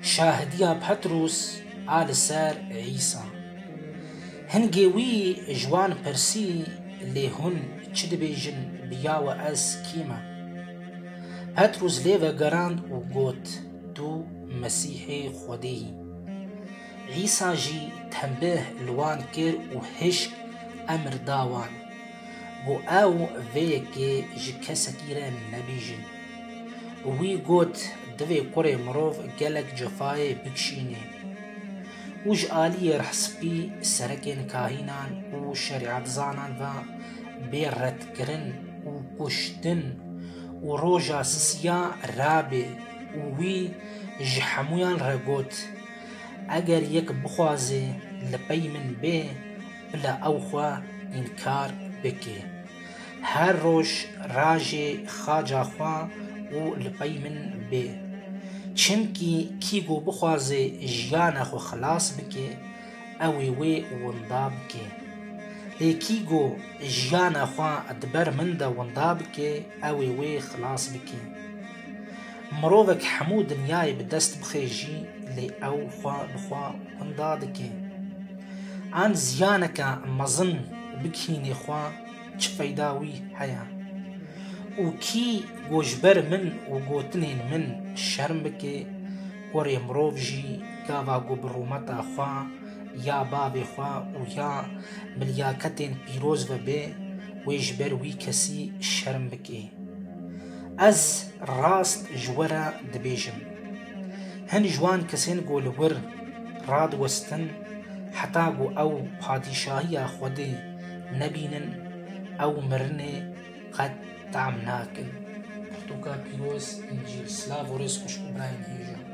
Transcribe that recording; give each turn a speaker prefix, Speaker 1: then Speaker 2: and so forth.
Speaker 1: Şahidiya Petrûs a li ser Îsa. Hingê wî ji wan pirsî, Lê hûn çi dibêjin, biya we ez kî me? Petrûs lê vegerand û got, Tu Mesîhê Xwedê yî. Îsa jî tenbih li wan kir û hişk emr da wan, Ku ew vê yekê ji kesekî re nebîjin. Wî got, Divê kurê mirov gelek cefayê bikişînê. Û ji aliyê Rehspî, serekên kahînan û şerîetzanan ve bê redkirin û kuştin û roja sisiya rabê û wî ji hemûyan re got, Eger yek bixwaze li pey min bê, Bila ew xwe înkar bike. Her roj rajê xaca xwe û li pey min bê. Çimkî kî ku bixwaze jiyana xwe xilas bike, ew ê wê winda bike. Lê kî ku jiyana xwe di ber min de winda bike, ew ê wê xilas bike. Mirovek hemû dinyayê bi dest bixe jî lê ew xwe bi xwe winda dike. An ziyaneke mezin bikînê xwe çi feyda wî heye? Û kî ku ji ber min û gotinên min şerm bike, kurê mirov jî gava ku bi rûmeta xwe ya bavê xwe û ya milyaketên pîroz ve be, wê ji ber wî kesî şerm bike? Ez rast ji we re dibêjim, hin ji wan kesên ku li wir radiwestin heta ku ew padîşahiya Xwedê nebînin, ew mirinê qet team nakin. Pirtûka pîroz ên ji silav û rêz xweş û birayên hêj e.